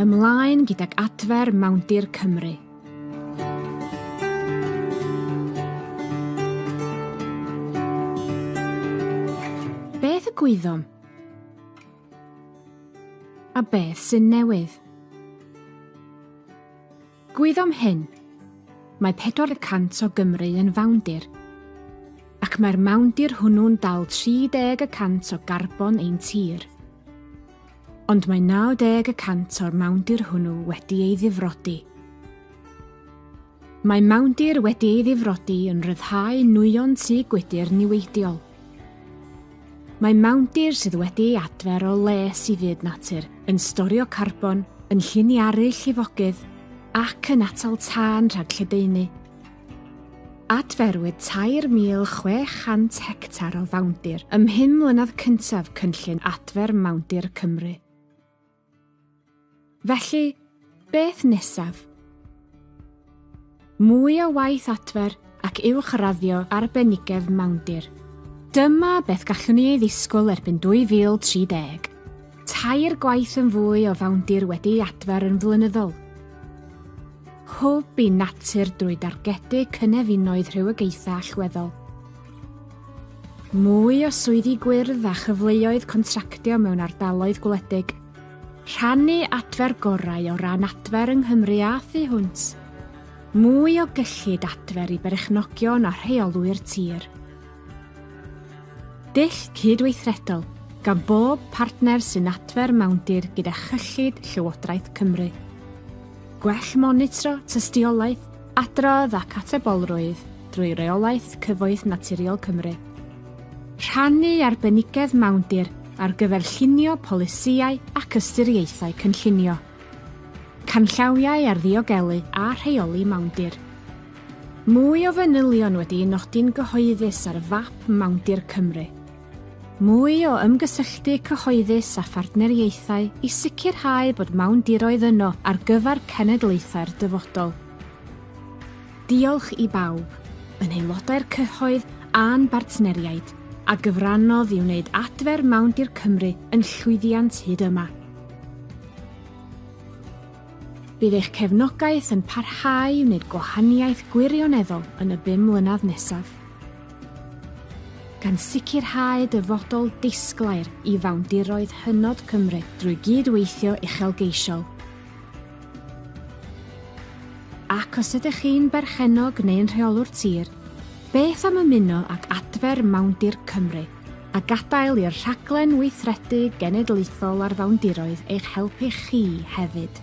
Ymlaen gydag adfer Mawndir Cymru. Beth y gwyddom? A beth sy'n newydd? Gwyddom hyn, mae pedwar y cant o Gymru yn fawndir, ac mae'r mawndir hwnnw'n dal 30 y cant o garbon ein tir. Ond mae 90 y cant o'r mawndir hwnnw wedi ei ddifrodi. Mae mawndir wedi ei ddifrodi yn rhyddhau nwyon tŷ gwydr niweidiol. Mae mawndir sydd wedi ei adfer o les i fyd natur yn storio carbon, yn lliniaru llifogydd ac yn atal tân rhag lledaenu. Adferwyd 3,600 hectar o fawndir ym mhum mlynedd cyntaf Cynllun Adfer Mawndir Cymru. Felly, beth nesaf? Mwy o waith adfer ac uwchraddio arbenigedd mawndir. Dyma beth gallwn ni ei ddisgwyl erbyn 2030, tair gwaith yn fwy o fawndir wedi'i adfer yn flynyddol. Hwb i natur drwy dargedu cynefinoedd rhywogaethau allweddol. Mwy o swyddi gwyrdd a chyfleoedd contractio mewn ardaloedd gwledig. Rhannu adfer gorau o ran adfer yng Nghymru a thu hwnt. Mwy o gyllid adfer i berchnogion a rheolwyr tir. Dull cydweithredol gan bob partner sy'n adfer mawndir gyda chyllid Llywodraeth Cymru. Gwell monitro, tystiolaeth, adrodd ac atebolrwydd. drwy reolaeth Cyfoeth Naturiol Cymru. Rhannu arbenigedd mawndir ar gyfer llunio polisïau ac ystyriaethau cynllunio. Canllawiau ar ddiogelu a rheoli mawndir. Mwy o fanylion wedi'u nodi'n gyhoeddus ar fap mawndir Cymru. Mwy o ymgysylltu cyhoeddus a phartneriaethau i sicrhau bod mawndiroedd yno ar gyfer cenedlaethau'r dyfodol. Diolch i bawb, yn aelodau'r cyhoedd a'n bartneriaid, a gyfrannodd i wneud adfer Mawndir Cymru yn llwyddiant hyd yma. Bydd eich cefnogaeth yn parhau i wneud gwahaniaeth gwirioneddol yn y bum mlynedd nesaf, gan sicrhau dyfodol disglair i fawndiroedd hynod Cymru drwy gyd-weithio uchelgeisiol, Ac os ydych chi'n berchennog neu'n rheolwr tir, beth am ymuno ag adfer Mawndir Cymru a gadael i'r rhaglen weithredu genedlaethol ar fawndiroedd eich helpu chi hefyd?